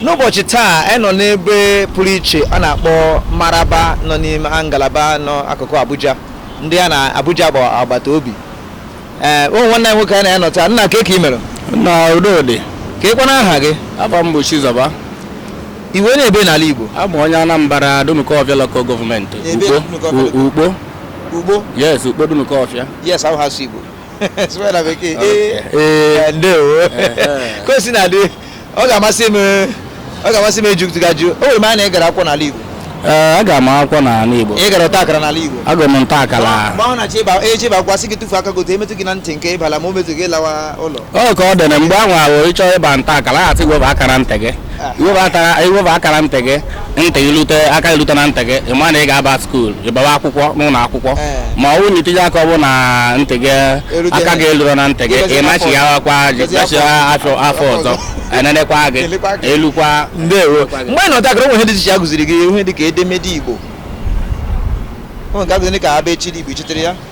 n'ụbọchị taa anyị nọ n'ebe pụrụ iche a na-akpọ maraba nọ n'ime ngalaba nọ akụkụ abuja ndị a na abuja bụ agbata obi ee o nwere nwanne anyị nwoke anyị na ya nọ taa nna kee ka ị mere na udo dị kee kwanụ aha gị afa m bụ chizọba ị wụ onye ebee n'ala igbo abụ m onye anambra dunukọfịa lokal gọọmenti Ebe Dunukọfịa local- ukpo ukpo ukpo yes ukpo dunukọfịa yes ahụ ha sụ igbo sụọ na bekee Okay. ee ee ndewo Ehe. ka o si na-adị ọ ga-amasị m ọ ga-amasị m ịjụpụta gị ajụjụ o were m anya ị gara akwụkwọ n'ala Igbo ee aga m akwụkwọ n'ala Igbo ị gara ọta akara n'ala Igbo agụrụ m nta akara mgbe ahụ na-achọ ịba eji ịba akwụkwọ sị gị tụfee aka gị otu a e metụ gị na ntị nke ị bala ma o metụghị lawa ụlọ ọ ka ọ dị na mgbe ahụ ahụ ị chọọ ịba nta akara a sị weba aka na ntị gị i weba aka na- i weba aka na ntị gị ntị gị lute aka gị lute na ntị gị ị ma na ị ga-aba skuul ị bawa akwụkwọ n'ụlọ akwụkwọ Ee. ma ọ bụrụ na i tinye aka ọ bụ na ntị gị Erute aka na- gị eluro na ntị gị Ịgọzi ị afọ nachighawakwa ọzọ. Ịgọzi machi afọ- afọ afọ afọ ọzọ ọzọ. e nenekwa gị Elekwa gị. elukwa ndewo mgbe ị nọ ọta akara o nwere ihe dị iche a gụziri gị ihe dị ka edemede igbo o nwere nke a gụziri ka abịchịdị igbo i chetara ya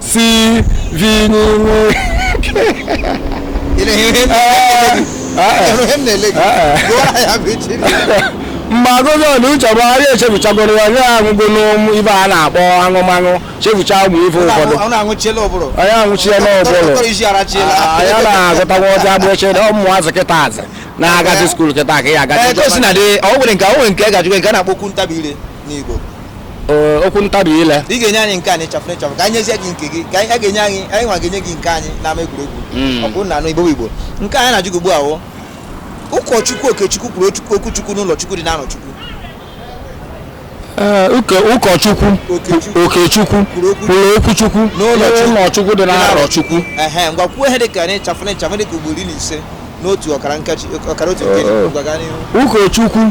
si vi n'ime Ị na-enye ihe m na-ele gị. Gụọ ya bụ iche. mgbe agụgọ na uche bụ anyị echefuchagoro ya onye aṅụgo ụmụ ife a na-akpọ aṅụmaṅụ chefucha ụmụ ife ụfọdụ Ọ na-aṅụchiela ụbụrụ. anyị aṅụchie n'ụbụrụ Tọrọ isi arachiela. anyị na-agụtakwa ọcha bụ eche na ụmụazị kịta azị na-agazi skuul kịta ka ya agazi Ee, ka o si na dị, ọ nwere nke ọ nwere nke a ga-ajụ gị nke a na-akpọ okwu ntabi ire. n'Igbo Ee, okwu ntabi ile ị ga-enye anyị nke anyị sharp sharp ka anyị nyezie gị nke gị ka anyị a ga-enye anyị anyị nwa ga-enye gị nke anyị n'ama egwuregwu Mm. ọ bụrụ na anụ igbo igbo nke anyị na-ajụ gị ugbu a wụ ụkọchukwu okechukwu kwuru okwu- okwu chukwu n'ụlọ chukwu dị n'arọchukwu Ee, ụka- ụkọchukwu Okechukwu. okechukwu Kwuru okwu- kwuru okwu chukwu N'ụlọ Chukwu. n'ụlọ chukwu dị n'arọchukwu ehe ngwa kwuo ihe dị ka anyị sharp sharp dị ka ugboro iri na ise n'otu ọkara nkeji ọkara otu nkeji Oh, oh. ngwa gaa n'ihu ụkọchukwu